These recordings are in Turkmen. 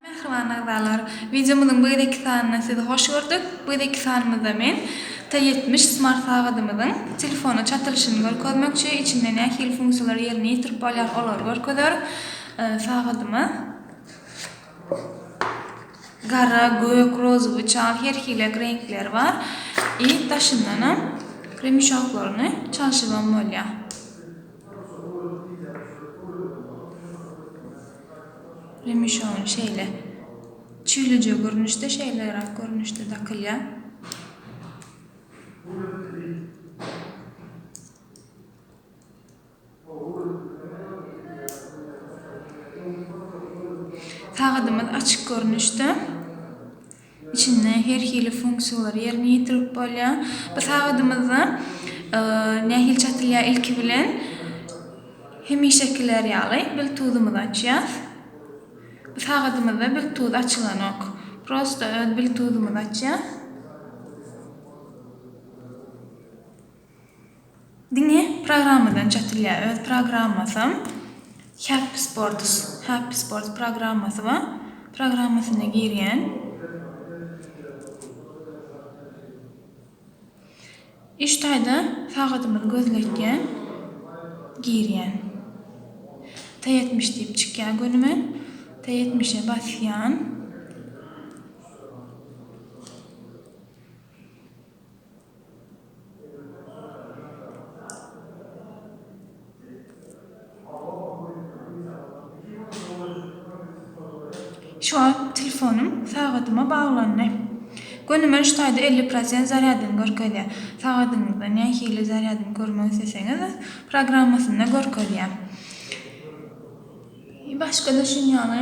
Mähriban agzalar, wideomyzyň bu gezekki sanynda sizi hoş gördük. Bu gezekki sanymyzda men T ýetmiş smart sagadymyzyň telefona çatylyşyny görkezmekçi, içinde nähili funksiýalar ýerine ýetirip bolýar olary görkezeris. Sagadyma. Gara, gök, rozowy, çal her hilek reňkleri bar. I daşyndanam kremuşaklaryny çalşybam bolýar. Kremuşagyny şeýle çüýlüje görnüşde, şeýle rak görnüşde dakylýar. Sagadymyz açyk görnüşde. Içinde her hili funksiýalar ýerine ýetirilip bolýar. Bu sagadymyzda nähili çatylýar? Ilki bilen hemişekiler ýaly biltuzymyzy açýas. Bu sagadymyzda biltuz açylanok. Prosta öz biltuzymyzy açýas. Diňe programmadan çatylýar. Öz programmasam Happy Sports, Happy Sports programmasy bar. Programmasyna girýän. Üç taýda sagadymyzy gözletýän. Girýän. T70 diýip çykýar gönüme. T70-e basýan. Şu wagt telefonym sagadyma baglandy. Göni men şu taýda elli prosent zarýadyny görkezýär. Sagadyňyzda nähili zarýadyny görmek isleseňiz öz programmasynda görkezýär. Başga-da şuny ýaly.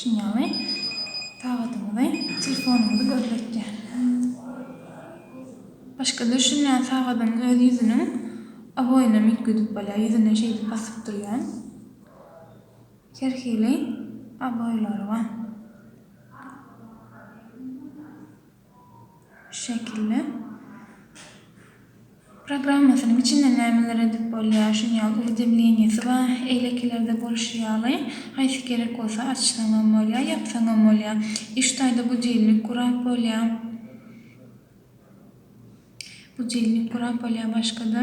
Şunuň ýaly sagadymyzy, telefonumyzy gözletýär. Başga düşünýän sagadyň öz ýüzüniň oboýunam üýtgedip bolýar. Ýüzüne şeýdip basyp durýan. Her hili oboýlary bar. Şu şekilde. Programmasynyň içinde nämeler edip bolýar, şuny ýaly uwidemleniýasy bar, eýlekilerde bolşy ýaly, haýsy gerek bolsa açsaňam bolýar, ýapsaňam bolýar. Iş taýda budiwnik gurap bolýar. Budilnik gurap bolýar başgada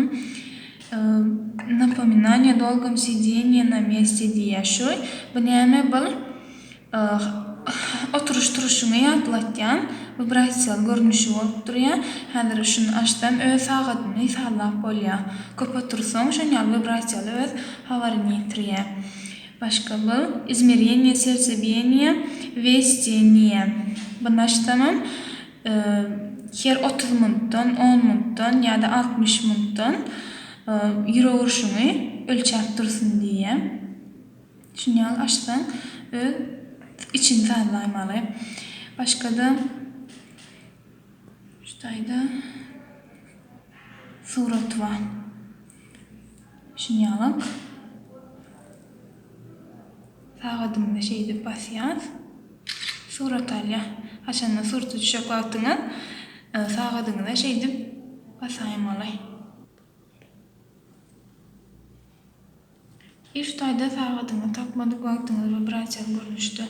napominaniýa dolgom sideniýa na mesti diýýär şu bu näme bul oturyş turuşyňy ýatlatýan wibrasiýaly görnüşi bolup durýar häzir şuny açsam öz sagadyny sallap bolýar köp otursaň şon ýaly wibrasiýaly öz habaryny ýetirýär başga bu izmereniýa serca biyeniýa westi niýe buny açsamam her otuz mundan, on mundan ýa-da altmyş mundan ýürek urşuňy ölçäp dursun diýýä. Şuny ýaly açsaň öz içiňi sazlaýmaly. Başga-da şu taýda surat bar. Şuny ýalyk. Sagadymyza şeýdip basýas. Surat alýar. Haçanda surta düşjek wagtyňyz sagadyňyza şeýdip basaýmaly. Üç taýda sagadyňyzy tapmadyk wagtyňyz wibrasiýaly görnüşde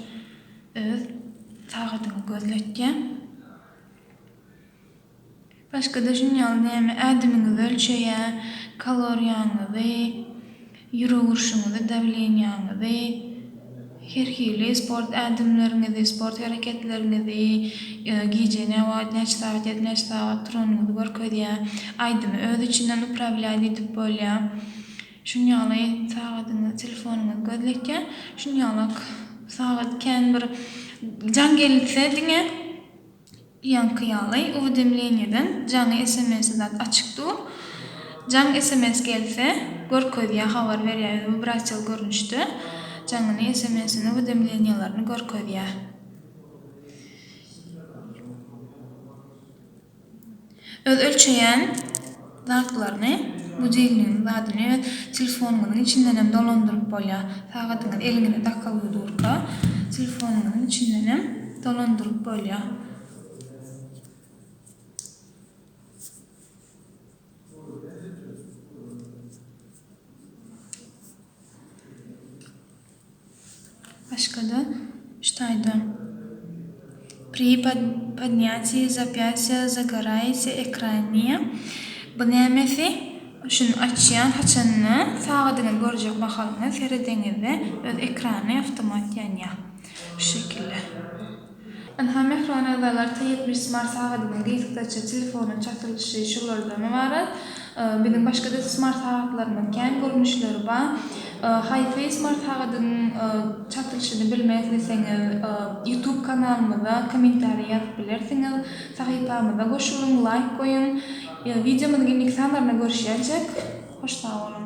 öz sagadyňyz gözletýär. Başga-da şunuň ýaly näme, ädimiňizi ölçeýä, kaloriýaňyzy, ýürek urşuňyzy, dawleniýaňyzy, her hili sport ädimleriňizi, sport hereketleriňizi, gije nä wagt, näçe sagat ýatyp, näçe sagat turanyňyzy görkezýä. Aýdymy öz içinden uprawlýaý diýdip bolýa. Şunuň ýaly sagadyňyz, telefonyňyz gözletýä. Şunuň ýaly sagat kän bir jaň gelse diňe. Ýaňky ýaly uwidemleniýadan jaňy sms-i zat açyk dur. Jaň sms gelse görkezýä habar berýä ýöne wibrasiýaly görnüşde jaňyny sms-ini uwidemleniýalaryny görkezýä. Öz ölçeýän zatlaryny, budilnigiň zadyny öz telefonyňyzyň içindenem dolandyryp bolýar. Sagadyňyz eliňize dakylgy durka, telefonyňyzyň içindenem dolandyryp bolýar. Başga-da, şu taýda Pri podnýatiýi zapýasýa zagaraýasy ekraniýa bu nämesi? Şuny açýan haçanda sagadyňyzy görjek mahalyňyz seredeňizde öz ekrany awtomat ýanýar. Şu şekilde. Ynha, mähriban agzalar, T ýetmiş smart sagadynyň gysgaça telefona çatylyşy şulardan ybarat. Biziň başga-da smart sagatlarymyz kän, görnüşleri bar. Hi-Fi smart sagadynyň çatylyşyny bilmek isleseňiz, YouTube kanalymyza kommentariý ýazyp bilersiňiz. Sahypamyza goşulyň, laýk goýuň. Wideomyzyň indiki sanlarynda görüşýänçek, hoş sag boluň!